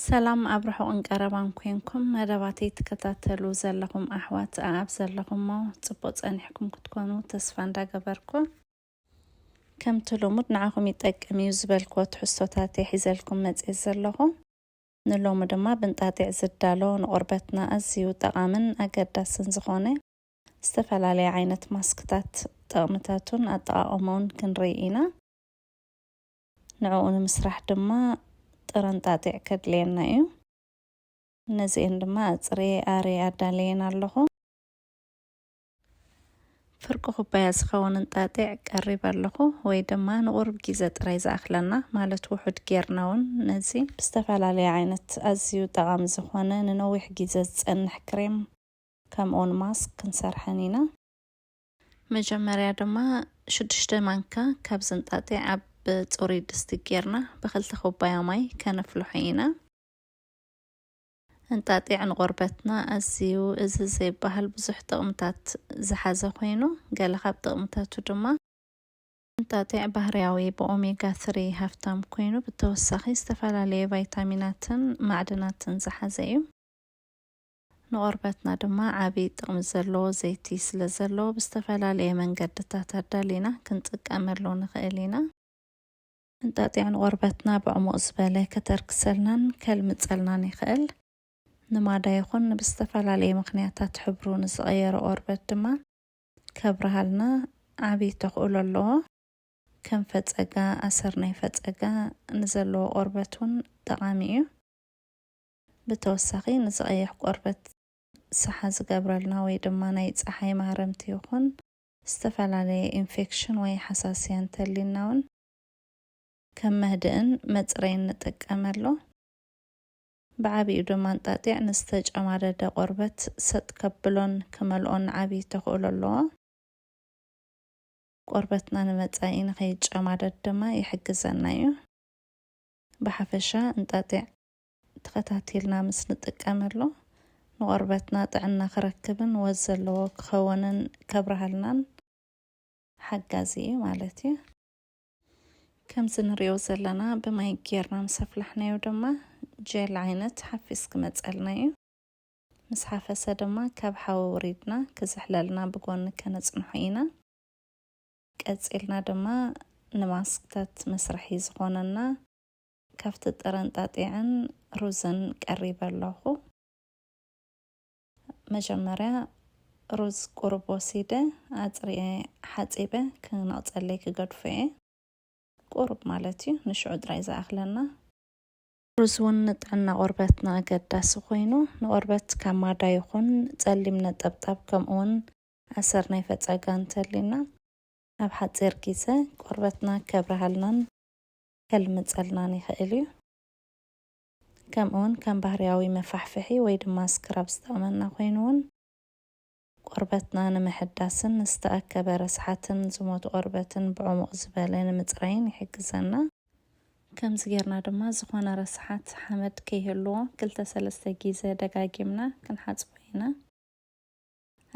ሰላም ኣብ ርሑቕን ቀረባን ኮንኩም መደባተይ ትከታተሉ ዘለኹም ኣሕዋት ኣኣብ ዘለኹሞ ጽቡቕ ጸኒሕኩም ክትኮኑ ተስፋ እንዳገበርኩ ከምቲ ልሙድ ንዓኹም ይጠቅም እዩ ዝበልክዎ ትሕዝቶታተይ ሒዘልኩም መጽየ ዘለኹ ንሎሚ ድማ ብንጣጢዕ ዝዳሎ ንቆርበትና ኣዝዩ ጠቓምን ኣገዳስን ዝኾነ ዝተፈላለየ ዓይነት ማስክታት ጥቕምታቱን ኣጠቓቕመኡን ክንርኢ ኢና። ንዕኡ ንምስራሕ ድማ ጥረንጣጢዕ ከድልየና እዩ። ነዚኤን ድማ ኣጽርየ ኣርየ ኣዳለየን ኣለኹ። ፍርቂ ኩባያ ዝኸውን እንጣጢዕ ቀሪብ ኣለኹ ወይ ድማ ንቑርብ ጊዘ ጥራይ ዝኣኽለና ማለት ውሑድ ጌርና እውን ነዚ ብዝተፈላለየ ዓይነት ኣዝዩ ጠቓሚ ዝኾነ ንነዊሕ ጊዘ ዝጸንሕ ክሬም ከምኡውን ማስክ ክንሰርሐን ኢና። መጀመርያ ድማ ሽዱሽተ ማንካ ካብ ዝንጣጢ ኣብ ፅሩይ ድስቲ ጌርና ብክልተ ኩባያ ማይ ከነፍልሖ ኢና። እንጣጢዕ ንቆርበትና ኣዝዩ እዚ ዘይበሃል ብዙሕ ጥቕምታት ዝሓዘ ኮይኑ ገለ ካብ ጥቕምታቱ ድማ እንጣጢዕ ባህርያዊ ብኦሜጋ ስሪ ሃፍታም ኮይኑ ብተወሳኺ ዝተፈላለየ ቫይታሚናትን ማዕድናትን ዝሓዘ እዩ። ንቆርበትና ድማ ዓብይ ጥቅሚ ዘለዎ ዘይቲ ስለዘለዎ ብዝተፈላለየ መንገድታት ኣዳሊና ክንጥቀመሉ ንኽእል ኢና። እንጣጢዕ ንቆርበትና ብዕሙቅ ዝበለ ከተርክሰልናን ከልምፀልናን ይኽእል። ንማዳ ይኹን ንብዝተፈላለየ ምኽንያታት ሕብሩ ንዝቀየረ ቆርበት ድማ ከብርሃልና ዓብይ ተኽእሎ ኣለዎ። ከም ፈፀጋ፣ ኣሰር ናይ ፈፀጋ፣ ንዘለዎ ቆርበት እውን ጠቃሚ እዩ። ብተወሳኺ ነዚ ቀይሕ ቆርበት ሰሓ ዝገብረልና ወይ ድማ ናይ ጸሓይ ማህረምቲ ይኹን ዝተፈላለየ ኢንፌክሽን ወይ ሓሳስያ እንተሊና ውን ከም መህድእን መጽረይን ንጥቀመሉ። ብዓቢኡ ድማ እንጣጢዕ ንዝተጨማደደ ቆርበት ሰጥ ከብሎን ክመልኦን ዓቢ ተኽእሎ ኣለዎ። ቆርበትና ንመጻኢ ንከይጨማደድ ድማ ይሕግዘና እዩ። ብሓፈሻ እንጣጢዕ ተኸታቲልና ምስ ንጥቀመሉ ንቆርበትና ጥዕና ክረክብን ወዝ ዘለዎ ክኸውንን ከብርሃልናን ሓጋዚ እዩ ማለት እዩ። ከምዚ ንሪኦ ዘለና ብማይ ጌርና ምስ ኣፍላሕናዮ ድማ ጀል ዓይነት ሓፊስ ክመፀልና እዩ። ምስ ሓፈሰ ድማ ካብ ሓዊ ውሪድና ክዝሕለልና ብጎኒ ከነፅንሖ ኢና። ቀፂልና ድማ ንማስክታት መስርሒ ዝኾነና ካብቲ ጥረንጣጢዕን ሩዝን ቀሪበ ኣለኹ። መጀመርያ ሩዝ ቁሩብ ወሲደ ኣጽሪየ ሓጺበ ክነቕጸለይ ክገድፎ እየ። ቁሩብ ማለት እዩ፣ ንሽዑ ጥራይ ዝኣኽለና። ሩዝ እውን ንጥዕና ቆርበትና ኣገዳሲ ኮይኑ፣ ንቆርበት ካብ ማዳ ይኹን ጸሊም ነጠብጣብ ከምኡውን ኣሰር ናይ ፈጸጋ እንተልዩና ኣብ ሓጺር ግዜ ቆርበትና ከብርሃልናን ከልምጸልናን ይኸእል እዩ። ከምእውን ከም ባህርያዊ መፋሕፍሒ ወይ ድማ ስክራብ ዝጠቕመና ኮይኑ እውን ቆርበትና ንምሕዳስን ዝተኣከበ ረስሓትን ዝሞቱ ቆርበትን ብዕሙቕ ዝበለ ንምጽራይን ይሕግዘና። ከምዚ ጌርና ድማ ዝኾነ ረስሓት ሓመድ ከይህልዎ ክልተ ሰለስተ ጊዘ ደጋጊምና ክንሓጽቦ ኢና።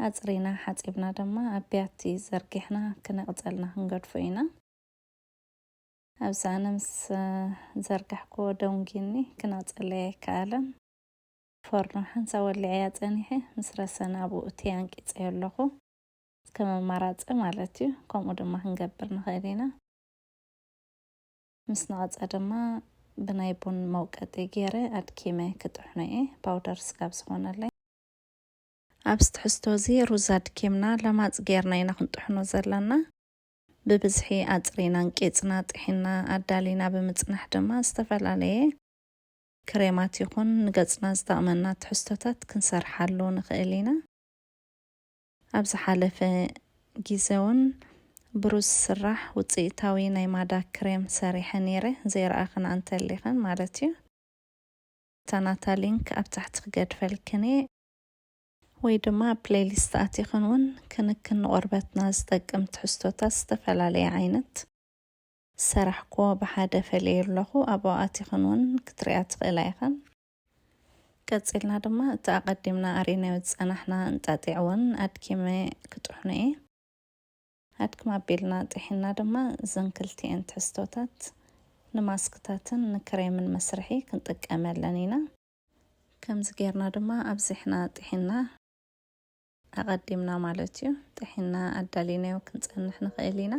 ኣጽሪና ሓጺብና ድማ ኣብ ቢያቲ ዘርጊሕና ክነቕጸልና ክንገድፎ ኢና። ኣብዚ ኣነ ምስ ዘርጋሕክዎ ደንጒኒ ክነጽለይ ኣይከኣለን። ፎርኖ ሓንሳብ ወሊዐያ ጸኒሐ ምስ ረሰነ ኣብኡ እትየ ኣንቂጸዮ ኣለኹ። ከም ኣማራጺ ማለት'ዩ። ከምኡ ድማ ክንገብር ንኽእል ኢና። ምስ ነቐጸ ድማ ብናይ ቡን መውቀጢ ገይረ ኣድኪመ ክጥሕኖ'የ፣ ፓውደር ስጋብ ዝኾነለይ። ኣብዚ ትሕዝቶ'ዚ ሩዝ ኣድኪምና ለማጽ ገይርና ኢና ክንጥሕኖ ዘለና። ብብዝሒ ኣፅሪናን ቂፅና ጢሒና ኣዳሊና ብምፅናሕ ድማ ዝተፈላለየ ክሬማት ይኹን ንገፅና ዝጠቕመና ትሕዝቶታት ክንሰርሓሉ ንኽእል ኢና። ኣብ ዝሓለፈ ጊዘ ውን ብሩዝ ዝስራሕ ውፅኢታዊ ናይ ማዳ ክሬም ሰሪሐ ነይረ፣ ዘይረኣኽንኣ እንተሊኽን ማለት ዩ። እታ ናታ ሊንክ ኣብ ታሕቲ ክገድፈልክን እየ። ወይ ድማ ኣብ ፕለይሊስት ኣቲኽን እውን ክንክን ንቆርበትና ዝጠቅም ትሕዝቶታት ዝተፈላለየ ዓይነት ዝሰራሕኩዎ ብሓደ ፈልየዮ ኣለኹ ኣብኡ ኣቲኽን እውን ክትሪኣ ትኽእላ ኢኽን። ቀጺልና ድማ እቲ ኣቐዲምና ኣሪናዮ ዝጸናሕና እንጣጢዕ እውን ኣድኪመ ክጥሕኖ እየ። ኣድክም ኣቢልና ጢሒንና ድማ እዘን ክልቲኤን ትሕዝቶታት ንማስክታትን ንክሬምን መስርሒ ክንጥቀመለን ኢና። ከምዚ ጌርና ድማ ኣብዚሕና ጥሒና ኣቐዲምና ማለት እዩ ጥሒና ኣዳሊናዮ ክንጸንሕ ንኽእል ኢና።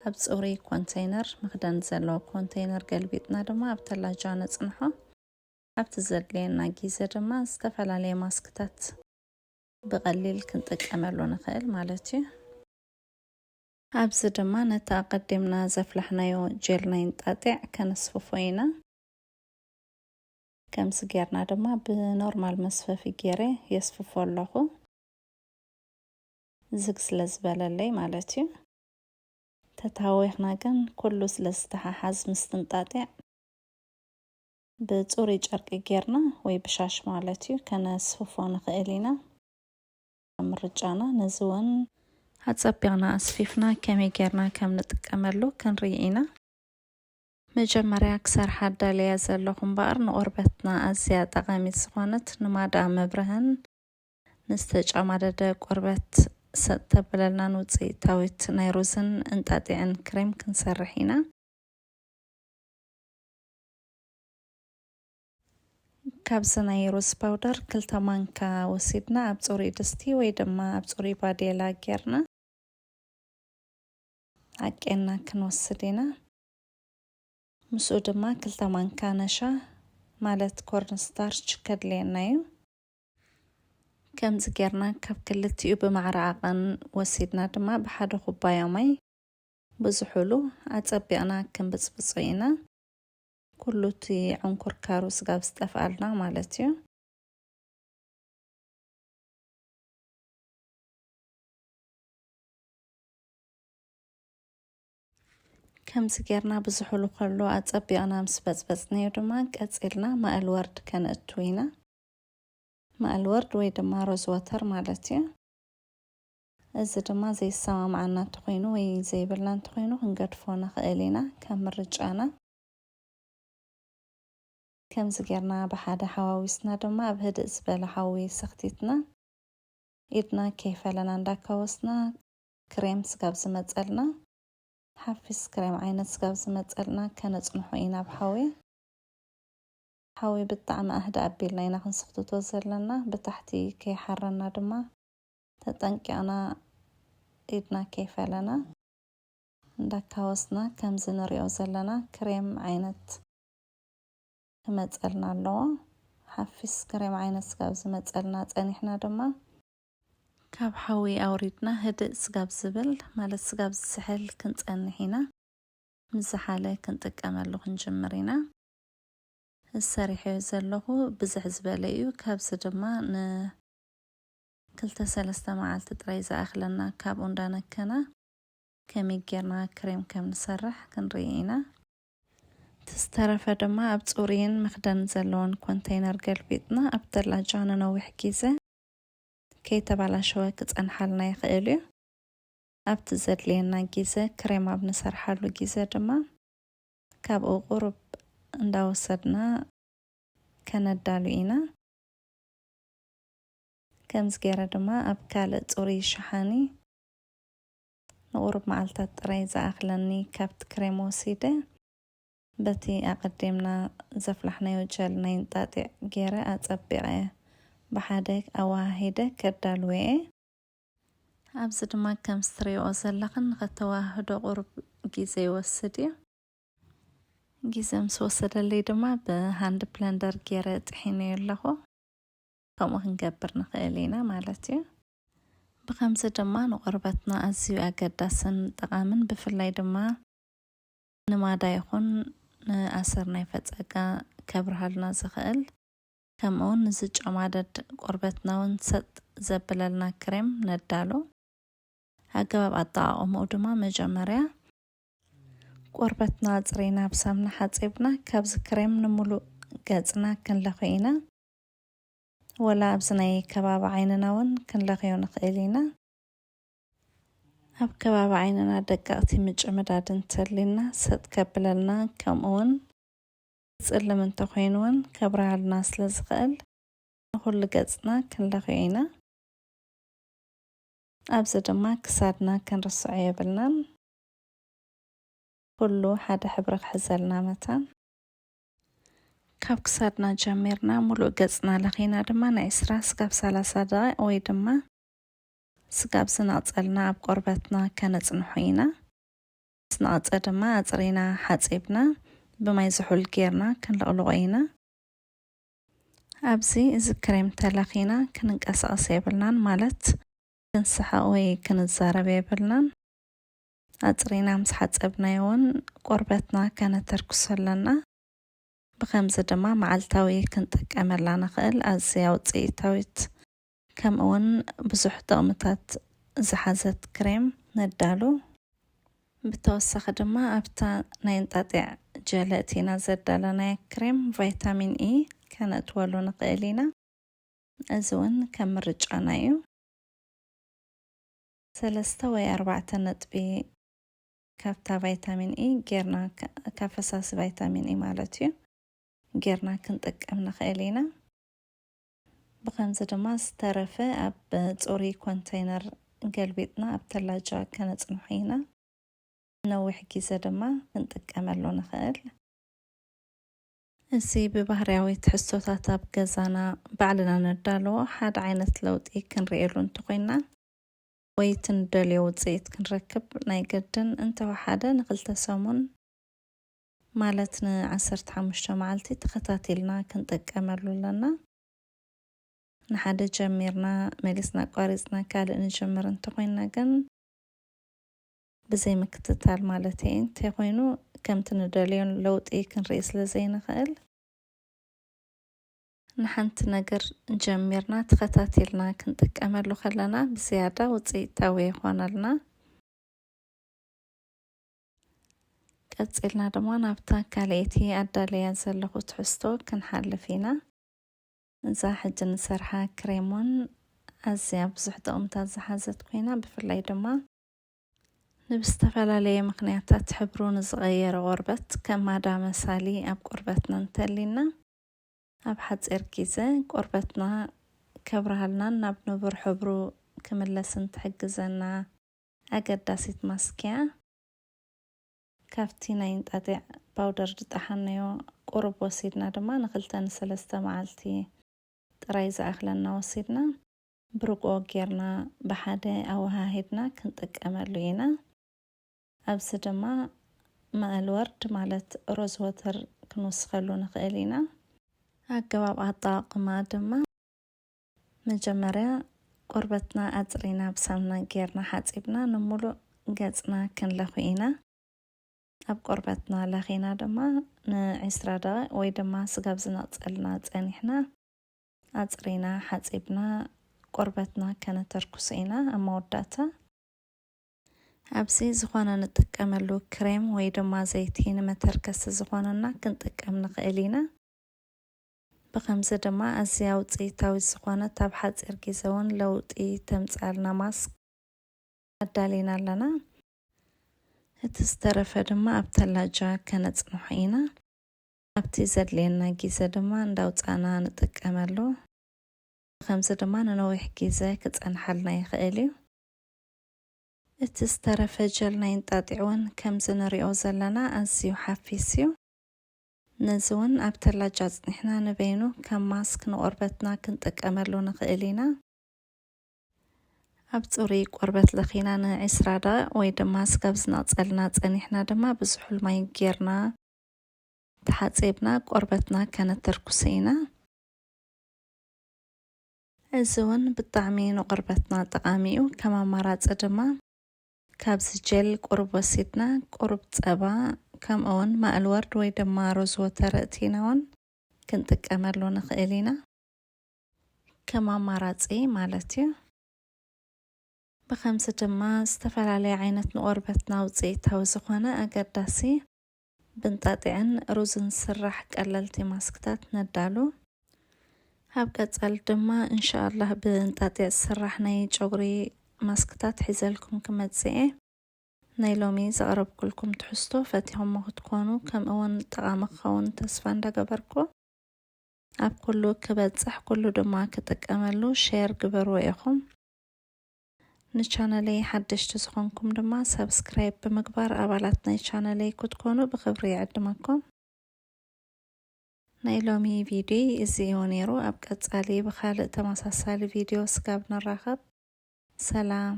ኣብ ጽሩይ ኮንተይነር፣ መኽደን ዘለዎ ኮንተይነር ገልቢጥና ድማ ኣብ ተላጃ ነጽንሖ። ኣብቲ ዘድልየና ጊዘ ድማ ዝተፈላለየ ማስክታት ብቐሊል ክንጥቀመሉ ንኽእል ማለት እዩ። ኣብዚ ድማ ነቲ ኣቐዲምና ዘፍላሕናዮ ጀል ናይ እንጣጢዕ ከነስፍፎ ኢና። ከምዚ ጌርና ድማ ብኖርማል መስፈፊ ጌረ የስፍፎ ኣለኹ ዝግ ስለ ዝበለለይ ማለት እዩ ተታወኽና ግን ኩሉ ስለ ዝተሓሓዝ ምስትንጣጢዕ ብፁሩይ ጨርቂ ጌርና ወይ ብሻሽ ማለት እዩ ከነስፍፎ ንኽእል ኢና ምርጫና ነዚ እውን ኣጸቢቕና ኣስፊፍና ከመይ ጌርና ከም ንጥቀመሉ ክንርኢ ኢና መጀመርያ ክሰርሓ ኣዳልያ ዘለኹ እምበኣር ንቆርበትና ኣዝያ ጠቓሚት ዝኾነት ንማዳ መብርህን ንዝተጨማደደ ቆርበት ሰጥ ተብለልናን ውጽኢታዊት ናይ ሩዝን እንጣጢዕን ክሬም ክንሰርሕ ኢና። ካብዚ ናይ ሩዝ ፓውደር ክልተ ማንካ ወሲድና ኣብ ጽሩይ ድስቲ ወይ ድማ ኣብ ጽሩይ ባዴላ ጌርና ዓቄና ክንወስድ ኢና። ምስኡ ድማ ክልተ ማንካ ነሻ ማለት ኮርን ስታርች ከድልየና እዩ። ከምዚ ጌርና ካብ ክልቲኡ ብማዕረ ዓቐን ወሲድና ድማ ብሓደ ኩባያ ማይ ብዝሑሉ ኣጸቢቕና ክንብጽብጾ ኢና። ኩሉ እቲ ዕንኩርካሩ ስጋብ ዝጠፍኣልና ማለት እዩ። ከምዚ ጌርና ብዝሑሉ ከሎ ኣጸቢቕና ምስ በጽበጽንዮ ድማ ቀጺልና ማእል ወርድ ከነእቱ ኢና። ማእል ወርድ ወይ ድማ ሮዝ ወተር ማለት እዩ። እዚ ድማ ዘይሰማምዓና እንተኾይኑ ወይ ዘይብልና እንተኾይኑ ክንገድፎ ንኽእል ኢና ከም ምርጫና። ከምዚ ጌርና ብሓደ ሓዋዊስና ድማ ኣብ ህድእ ዝበለ ሓዊ ሰኽቲትና ኢድና ከይፈለና እንዳካወስና ክሬም ስጋብ ዝመጸልና ሓፊስ ክሬም ዓይነት ስጋብ ዝመጸልና ከነጽንሖ ኢና ብ ሓዊ ሓዊ ብጣዕሚ ኣህድእ ኣቢልና ኢና ክንስኽትቶ ዘለና ብታሕቲ ከይሓረና ድማ ተጠንቂቕና ኢድና ከይፈለና እንዳካወስና ከምዚ ንሪኦ ዘለና ክሬም ዓይነት ክመጸልና ኣለዎ ሓፊስ ክሬም ዓይነት ስጋብ ዝመጸልና ጸኒሕና ድማ ካብ ሓዊ ኣውሪድና ህድእ ስጋብ ዝብል ማለት ስጋብ ዝስሕል ክንጸንሕ ኢና። ምስ ዝሓለ ክንጥቀመሉ ክንጅምር ኢና። እዚ ሰሪሐዮ ዘለኹ ብዝሕ ዝበለ እዩ። ካብዚ ድማ ን ክልተ ሰለስተ መዓልቲ ጥራይ ዝኣኽለና። ካብኡ እንዳነከና ከመይ ጌርና ክሬም ከም ንሰርሕ ክንርኢ ኢና። እቲ ዝተረፈ ድማ ኣብ ጽሩይን መኽደን ዘለዎን ኮንተይነር ገልቢጥና ኣብ ተላጃ ንነዊሕ ጊዘ ከይተባላሸወ ክጸንሓልና ይኽእል እዩ። ኣብቲ ዘድልየና ጊዘ ክሬም ኣብ ንሰርሓሉ ጊዘ ድማ ካብኡ ቁሩብ እንዳወሰድና ከነዳሉ ኢና። ከምዚ ጌረ ድማ ኣብ ካልእ ጽሩይ ሸሓኒ ንቁሩብ መዓልታት ጥራይ ዝኣኽለኒ ካብቲ ክሬም ወሲደ በቲ ኣቐዲምና ዘፍላሕናዮ ቸል ናይ እንጣጢዕ ገይረ ኣጸቢቐ ብሓደ ኣወሃሂደ ከዳልዎ'የ። ኣብዚ ድማ ከምዚ ትርእይኦ ዘለኽን ንኸተወሃህዶ ቁሩብ ግዜ ይወስድ'ዩ። ግዜ ምስ ወሰደለይ ድማ ብሃንድ ብለንደር ገይረ ጥሒነዮ ኣለኹ። ከምኡ ክንገብር ንኽእል ኢና ማለት'ዩ። ብኸምዚ ድማ ንቆርበትና ኣዝዩ ኣገዳስን ጠቓምን ብፍላይ ድማ። ንማዳ ይኹን ንኣሰር ናይ ፈጸጋ ከብርሃልና ዝኽእል ከምኡውን ንዝጨማደድ ቆርበትናውን ሰጥ ዘብለልና ክሬም ነዳሉ። ኣገባብ ኣጠቓቕምኡ ድማ መጀመርያ ቆርበትና ኣጽሪና ብሳምና ሓጺብና ካብዚ ክሬም ንሙሉእ ገጽና ክንለኽዮ ኢና። ወላ ኣብዚ ናይ ከባቢ ዓይንናውን ክንለኽዮ ንኽእል ኢና። ኣብ ከባቢ ዓይንና ደቀቕቲ ምጭምዳድ እንተልዩና ሰጥ ከብለልና ከምኡ ውን ዝጽልም እንተኾይኑ ውን ከብርሃልና ስለ ዝኽእል ንኹሉ ገጽና ክንለኽዮ ኢና። ኣብዚ ድማ ክሳድና ክንርስዖ የብልናን ኩሉ ሓደ ሕብሪ ክሕዘልና መታን። ካብ ክሳድና ጀሚርና ሙሉእ ገጽና ለኺና ድማ ንዕስራ ስጋብ ሰላሳ ደቒቕ ወይ ድማ። ስጋብ ዝነቕጸልና ኣብ ቆርበትና ከነጽንሖ ኢና። ምስ ነቐጸ ድማ ኣጽሪና ሓጺብና ብማይ ዝሑል ጌርና ክንልቕልቖ ኢና። ኣብዚ እዚ ክሬም ተለኺና ክንንቀሳቐስ የብልናን ማለት ክንስሕቕ ወይ ክንዛረብ የብልናን። ኣጽሪና ምስ ሓጸብናዮ እውን ቆርበትና ከነተርክሶ ኣለና። ብኸምዚ ድማ መዓልታዊ ክንጥቀመላ ንኽእል ኣዝያ ውጽኢታዊት ከምኡ ውን ብዙሕ ጥቕምታት ዝሓዘት ክሬም ነዳሉ። ብተወሳኺ ድማ ኣብታ ናይ እንጣጢዕ ጀለ እቲና ዘዳለናያ ክሬም ቫይታሚን ኢ ከነእትወሉ ንኽእል ኢና። እዚ ውን ከም ምርጫና ዩ። ሰለስተ ወይ ኣርባዕተ ነጥቢ ካብታ ቫይታሚን ኢ ጌርና፣ ካብ ፈሳሲ ቫይታሚን ኢ ማለት ዩ፣ ጌርና ክንጥቀም ንኽእል ኢና። ብኸምዚ ድማ ዝተረፈ ኣብ ጽሩይ ኮንተይነር ገልቢጥና ኣብ ተላጃ ከነጽንሖ ኢና። ንነዊሕ ግዜ ድማ ክንጥቀመሉ ንኽእል። እዚ ብባህርያዊ ትሕዝቶታት ኣብ ገዛና ባዕልና ነዳልዎ ሓደ ዓይነት ለውጢ ክንርእየሉ እንተኾይንና ወይ እቲ ንደልዮ ውጽኢት ክንረክብ ናይ ግድን እንተወሓደ ንኽልተ ሰሙን ማለት ን ዓሰርተ ሓሙሽተ መዓልቲ ተኸታቲልና ክንጥቀመሉ ኣለና። ንሓደ ጀሚርና መሊስና ኣቋሪጽና ካልእ ንጅምር እንተኾይንና ግን፣ ብዘይ ምክትታል ማለተይ እየ፣ እንተይኾይኑ ከምቲ ንደልዮ ለውጢ ክንርኢ ስለዘይንኽእል፣ ንሓንቲ ነገር ጀሚርና ተኸታቲልና ክንጥቀመሉ ከለና ብዝያዳ ውጽኢታዊ ይኾነልና። ቀጺልና ድማ ናብታ ካልኣይቲ ኣዳለያ ዘለኹ ትሕዝቶ ክንሓልፍ ኢና። እዛ ሕጂ ንሰርሓ ክሬሞን ኣዝያ ብዙሕ ጥቕምታት ዝሓዘት ኮይና ብፍላይ ድማ ንብዝተፈላለየ ምኽንያታት ሕብሩ ንዝቐየረ ቆርበት ከም ማዳ መሳሊ ኣብ ቆርበትና እንተሊና ኣብ ሓጺር ጊዘ ቆርበትና ከብርሃልናን ናብ ንቡር ሕብሩ ክምለስን ትሕግዘና ኣገዳሲት ማስክ'ያ። ካብቲ ናይ እንጣጢዕ ፓውደር ዝጠሓንዮ ቁሩብ ወሲድና ድማ ንክልተ ንሰለስተ መዓልቲ ጥራይ ዝኣኽለና ወሲድና ብርግኦ ጌርና ብሓደ ኣወሃሂድና ክንጥቀመሉ ኢና። ኣብዚ ድማ ማእል ወርድ ማለት ሮዝ ወተር ክንውስኸሉ ንኽእል ኢና። ኣገባብ ኣጠቓቕማ ድማ። መጀመርያ ቆርበትና ኣጽሪና ብሳምና ጌርና ሓጺብና ንሙሉእ ገጽና ክንለኹ ኢና። ኣብ ቆርበትና ለኺና ድማ ን ዕስራ ደቂቅ ወይ ድማ ስጋብ ዝነቅጸልና ጸኒሕና ኣጽሪና ሓጺብና ቆርበትና ከነተርኩሶ ኢና ኣብ መወዳእታ። ኣብዚ ዝኾነ ንጥቀመሉ ክሬም ወይ ድማ ዘይቲ ንመተርከሲ ዝኾነና ክንጥቀም ንኽእል ኢና። ብኸምዚ ድማ ኣዝያ ውጽኢታዊት ዝኾነት ኣብ ሓጺር ግዜ ውን ለውጢ ተምጽኣልና ማስክ ኣዳሊና ኣለና። እቲ ዝተረፈ ድማ ኣብ ተላጃ ከነጽንሖ ኢና። ኣብቲ ዘድልየና ግዜ ድማ እንዳውጻእና ንጥቀመሉ። ብኸምዚ ድማ ንነዊሕ ግዜ ክጸንሓልና ይኽእል እዩ። እቲ ዝተረፈ ጀል ናይ እንጣጢዕ ውን ከምዚ ንሪኦ ዘለና ኣዝዩ ሓፊስ እዩ። ነዚ ውን ኣብ ተላጅ ኣጽኒሕና ንበይኑ ከም ማስክ ንቆርበትና ክንጥቀመሉ ንኽእል ኢና። ኣብ ጽሩይ ቆርበት ለኺና ን ዕስራ ደቒቕ ወይ ድማ ስጋብ ዝነቕጸልና ጸኒሕና ድማ ብዝሑል ማይ ጌርና ተሓጺብና ቆርበትና ከነተርኩሶ ኢና። እዚ ውን ብጣዕሚ ንቆርበትና ጠቓሚ ዩ። ከም ኣማራጺ ድማ። ካብዚ ጀል ቁሩብ ወሲድና ቁሩብ ጸባ ከምኡውን ማእልወርድ ወይ ድማ ሮዝ ወተር ኣእቲና ውን ክንጥቀመሉ ንኽእል ኢና። ከም ኣማራጺ ማለት እዩ። ብኸምዚ ድማ ዝተፈላለየ ዓይነት ንቆርበትና ውጽኢታዊ ዝኾነ ኣገዳሲ ብእንጣጢዕን ሩዝን ዝስራሕ ቀለልቲ ማስክታት ነዳሉ። ኣብ ቀጻሊ ድማ እንሻኣላህ ብእንጣጢዕ ዝስራሕ ናይ ጨጉሪ ማስክታት ሒዘልኩም ክመጽእ እየ። ናይ ሎሚ ዘቕረብኩልኩም ትሕዝቶ ፈቲኹሞ ክትኮኑ ከምእውን ጠቓሚ ክኸውን ተስፋ እንዳገበርኩ ኣብ ኩሉ ክበጽሕ ኩሉ ድማ ክጥቀመሉ ሼር ግበርዎ ኢኹም። ንቻነለይ ሓደሽቲ ዝኾንኩም ድማ ሰብስክራይብ ብምግባር ኣባላት ናይ ቻነለይ ክትኮኑ ብኽብሪ ይዕድመኩም። ናይ ሎሚ ቪድዮ እዚ እዩ ነይሩ። ኣብ ቀጻሊ ብካልእ ተመሳሳሊ ቪድዮ ስጋብ ንራኸብ ሰላም።